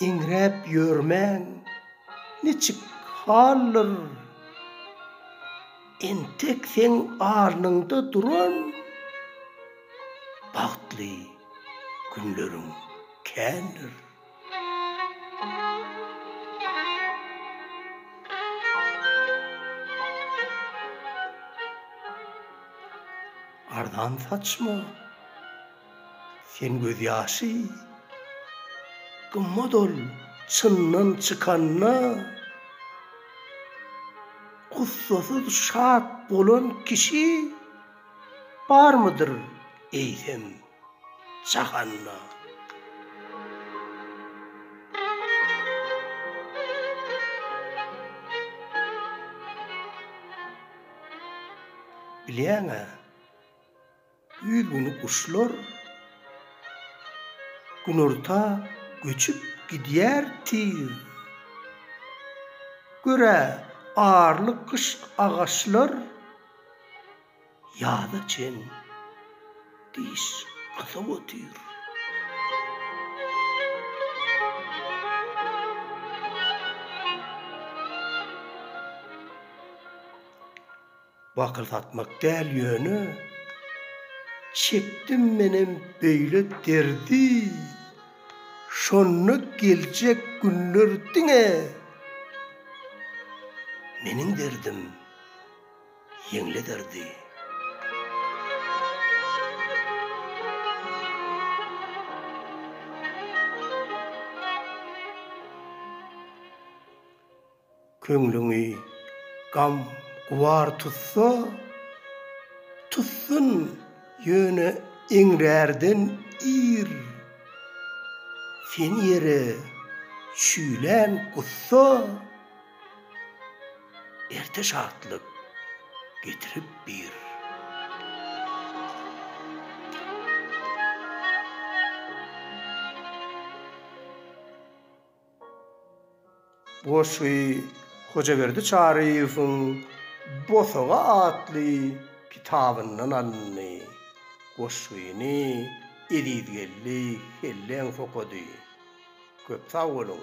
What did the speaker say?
Eňräp ýörmäň, niçik haldyr? Entek seň alnyňda duran bagtly günleriň kändir. Arzan saçma. Sen gözýaşy gymmat ol çyndan çykanda Gussasyz şat bolan kişi barmydyr eýsem jahanda. Bilýäň-ä, Ýüz günlük guşlar günorta göçüp gidýär tiz. Görä arly gyş agaçlar ýaza çen diş gysap otyr. wakyrsatmak däl ýöne çekdim menem beýle derdi şonda geljek günler diňe meniň derdim ýeňlederdi. Köňlüňi gam gubar tutsa, tutsun, ýöne eňrärden ir. Seni ýere çüýlän gussa, erte şatlyk getirip bir. Goşgy Hojaberdi Çaryýewiň Bosaga atly kitabyndan alyndy. Goşgyny Ezizgeldi Helleňow okady. Köp sag boluň!